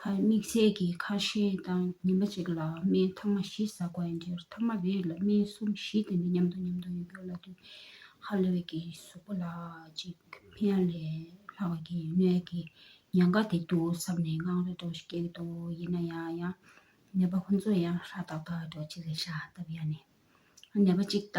ཁ་མིག་ཟས་ཀྱི་ཁ་ཞེང་དང་ཉིན་པ་གཅིག་ལ་སྨན་ཐང་མ་བཞི་བཟའ་དགོས་ཡིན་གྱིར་ཐང་མ་རེ་ལ་སྨན་གསུམ་བཞི་དེ་འདྲ་མཉམ་དུ་མཉམ་དུ་ཡོད་རྒྱུ་ལ་དུས་ཧ་ལས་བས་ཀྱི་གཟུགས་པོ་ལ་ཅིག་ཕན་ལས་སླ་བས་ཀྱི་ནད་ཀྱི་ཉེན་ཁ་དེ་འདུག་བསམ་ནས་དངངས་རེ་དོག་ཞིག་སྐྱེས་འདུག་ཡིན་ན་ཡང་ཡང་ནད་པ་ཁོ་ཚོ་ཡང་ཧྲ་ཏག་ཏག་འགྲོ་ཅི་ལས་ཤ་སྟབས་ཡག་ནས་ནད་པ་གཅིག་ལྟ་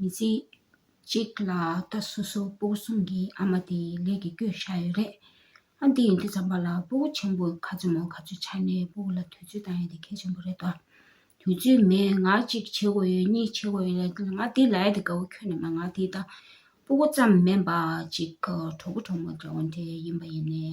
མི་ཚེ་གཅིག་ལ་ད་སོ་སོ་སྤོ་བོ་གསུམ་གྱི་ཨ་མ་དེ་ལས་ཀྱི་སྐྱོད་བཞག་ཡོད་རེད། ཨ་འདི་ཡིན་དུས་འཇམ་པ་ལ་སྤོ་བོ་ཆེན་པོ་ག་ཚོད་མང་ག་ཚོད་ཆགས་ནས་སྤོ་བོ་ལ་དུས་ཚོད་བཏང་ཡོད་དེ་གལ་ཆེན་པོ་རེད་དོ། དུས་ཚོད་མེད་ང་གཅིག་བྱེད་དགོས་ཡོད་གཉིས་བྱེད་དགོས་ཡོད་ལ་ང་འདི་ལ་ཡོད་དེ་དགའ་བོ་ཁྱོད་ནི་མ་ང་དེ་དང་སྤོ་བོ་ཙམ་མིན་པ་གཅིག་གྲོགས་པོ་གྲོགས་མོ་འདྲ་བོ་འདྲ་ཡིན་པ་ཡིན་ནའི།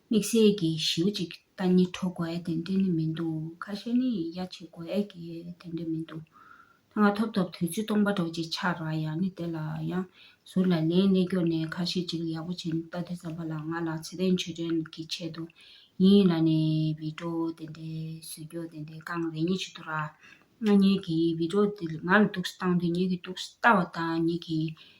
དམིགས་བསལ་གྱིས་ཞེའུ་གཅིག་རྟ་གཉིས་འཕྲོ་དགོས་དེ་འདྲ་ནི་མི་འདུག་ཁ་ཤས་ནི་གཡའ་བྱེད་དགོས་གི་དེ་འདྲ་མི་འདུག་ད་སྔ་ཐོབ་ཐོབ་དུས་ཚོད་སྟོང་པ་འགྲོ་རྗེས་ཆག་རག་ཡག་ནི་དེ་ལ་ཡང་ཟུར་ལ་ལན་གནས་སྐྱོར་ནས་ཁ་ཤས་ཅིག་ཡག་པོ་བྱས་འདུག་རྟ་དེ་ཙམ་པ་ལ་ང་ལ་ཚེ་ཏན་ཆོས་སྒྲོན་གྱིས་ཆེད་དུ་ཡིན་ཡིན་ལ་ནི་བི་ཀྲོ་དེ་འདྲའི་བཟོས་རྒྱུ་དེ་འདྲའི་རྐང་རེ་གཉིས་བྱེད་དུ་རག་ང་གཉིས་ཀྱིས་བི་ཀྲོ་དེ་ང་ལ་དུག་སེལ་བཏང་དུས་ངེད་ཀྱིས་དུག་སེལ་བཏང་བ་དང་ངེད་ཀྱིས་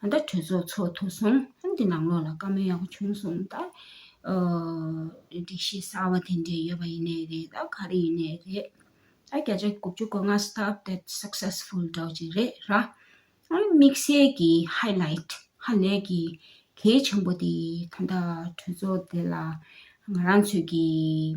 ད་ལྟ་གྲོས་ཚོགས་ཚོགས་ཐུབ་སོང་ཨང་འདི་ནང་ལོགས་ལ་བཀའ་མོལ་ཡག་པོ་བྱུང་སོང་ད། སྒྲིག་གཞི་གསར་བ་དེ་འདྲས་ཡོད་པ་ཡིན་ནའི་རེད་ད་ག་རེ་ཡིན་ནའི་རེད། ད་བརྒྱ་ཆ་དགུ་བཅུ་གོ་ལྔ stop that successful འདྲ་བོ་ཅིག་རེད་ར། ཨ་ནི་དམིགས་བསལ་གྱི highlight ཧ་ལས་ཀྱི་གལ་ཆེན་པོ་དེ་ད་ལྟ་གྲོས་ཚོགས་དེ་ལ་ང་རང་ཚོས་ཀྱི།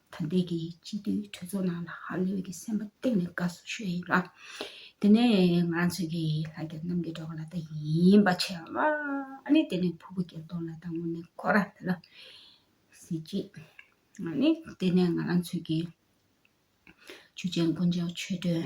ད་ལྟའི་གི་སྤྱི་མཐུས་གྲོས་ཚོགས་ནང་ལ་ཧ་ལོས་གི་སེམས་པ་གཏིང་ནས་དགའ་བསུ་ཞུ་ཡི་ཡིན་ལ། དེ་ནས་ང་རང་ཚོས་གི་ལྷ་རྒྱལ་རྣམ་རྒྱལ་གྲོགས་ལ་ད་ཡིན་པ་ཆེ་བ། ཨ་ནི་དེ་ནས་ཕུ་བོ་རྒྱལ་སྟོང་ལ་ད་ངོ་ནས་ཁོ་ར་དེ་ལ་གཟི་བརྗིད། ཨ་ནི་དེ་ནས་ང་རང་ཚོས་གི། ཆུ་ཆེན་དཀོན་མཆོག་ཆོས་སྒྲོན་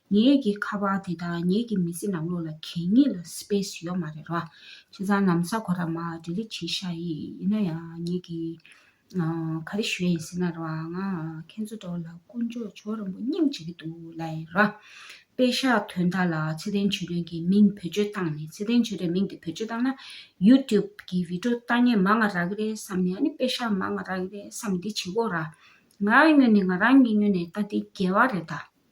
ངེད་ཀྱི་ཁ་པར་དེ་དག་ངེད་ཀྱི་མི་ཚེ་ནང་ལོགས་ལ་གད་སྙིགས་ལ space ཡོད་མ་རེད་ར། ཁྱེད་ཚང་ནམ་ས་གོ་ར་མ delete བྱེད་ཤ་ཡི་ཡིན་ན་ཡང་ངེད་ཀྱི་ག་རེ་ཞུ་ཡ་ཡིན་ཟེར་ན་ར་ང་ཁྱེད་ཚོ་འདྲ་བ་ལ་ཀུན་སྤྱོད་ཇོ་རིང་པོ་སྙིང་རྗེ་གི་འདུག་ལ་ཡིན་ར། པེ་ཤ་དོན་དག་ལ་ཚེ་བརྟན་ཇོ་རིང་གི་མིང་བེད་སྤྱོད་བཏང་ནས་ཚེ་བརྟན་ཇོ་རིང་མིང་དེ་བེད་སྤྱོད་བཏང་ན youtube གི video ལྟ་ཉན་མ་ང་ར་གི་རེད་བསམ་ནས་ཨ་ནི་པེ་ཤ་མ་ང་ར་གི་རེད་བསམ་འདི་བྱེད་དགོས་ར། ང་ངོས་ནས་ང་རང་ཉིད་ངོས་ནས་ལྟ་འདི་འགལ་བ་རེད་ད།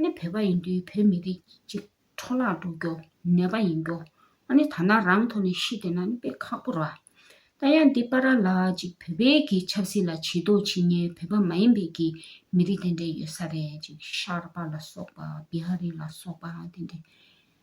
ནི་བོད་པ་ཡིན་དུས་བོད་མི་རིགས་ཀྱི་འཕྲོ་བརླག་འགྲོ་རྒྱུ་ནད་པ་ཡིན་རྒྱུ་ཨ་ནི་ཐ་ན་རང་ཐོག་ནས་ཤི་བསྡད་ན་ནི་དཔེ་ཁག་པོ་ར། ད་ཡང་འདི་པ་ར་ལགས་ཅིག་བོད་པའི་གི་ཆབ་སྲིད་ལ་བྱེད་དོ་བྱེད་ཉན་བོད་པ་མ་ཡིན་པའི་གི་མི་རིགས་དེ་འདྲས་ཡོད་ས་རེད་ཅིག་ཤར་པ་ལ་སོགས་པ་བི་ཧ་རི་ལ་སོགས་པའང་དེ་འདྲས།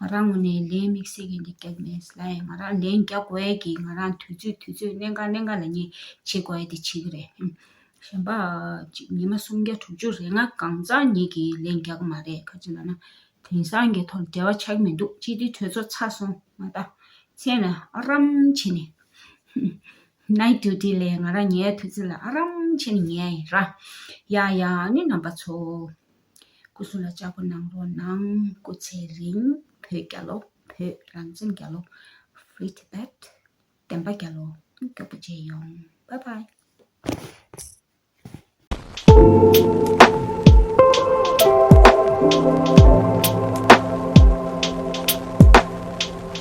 ང་རང་ངོས་ནས་ལན་དམིགས་བསལ་གྱི་འདི་རྒྱག་མེད། སླ་ཡང་ང་རང་ལན་རྒྱག་དགོས་ཡས་ཀྱི་ང་རང་དུས་ཚོད་དུས་ཚོད་གནད་འགག་གནད་འགག་ལ་ངས་བྱེད་དགོས་ཡས་དེ་བྱེད་ཀྱི་རེད། གཞན་པ། ཉི་མ་སུམ་བརྒྱ་དྲུག་ཅུ་རེ་ང་གང་ཟག་ཉིད་ཀྱིས་ལན་རྒྱག་གི་མ་རེད་ག་ཅིག་ལ་ན། དེང་སང་གི་ཐོག་འབྲེལ་བ་ཆགས་ཀྱི་མི་འདུག་སྤྱི་འཐུས་གྲོས་ཚོགས་ཚར་སོང་མ་ད། མཚན་ལ་ཨ་རམ་བྱེད་ནས། Night Duty ལས་ང་རང་ཉལ་ཡས་དུས་ཚོད་ལ་ཨ་རམ་བྱེད་ནས་ཉལ་ཡས་ར། ཡ་ཡ་ནི་རྣམ་པ་ཚོ། སྐུ་གསུང་ལ་ལྕགས་ཕོ་ནང་རོ་ནང། སྐུ་ཚེ་རིང་བོད་རྒྱ་ལོ་བོད་རང་བཙན་རྒྱ་ལོ Free Tibet བདེན་པ་རྒྱ་ལོ་མགྱོགས་པོ་བརྗེད་ཡོང Bye Bye།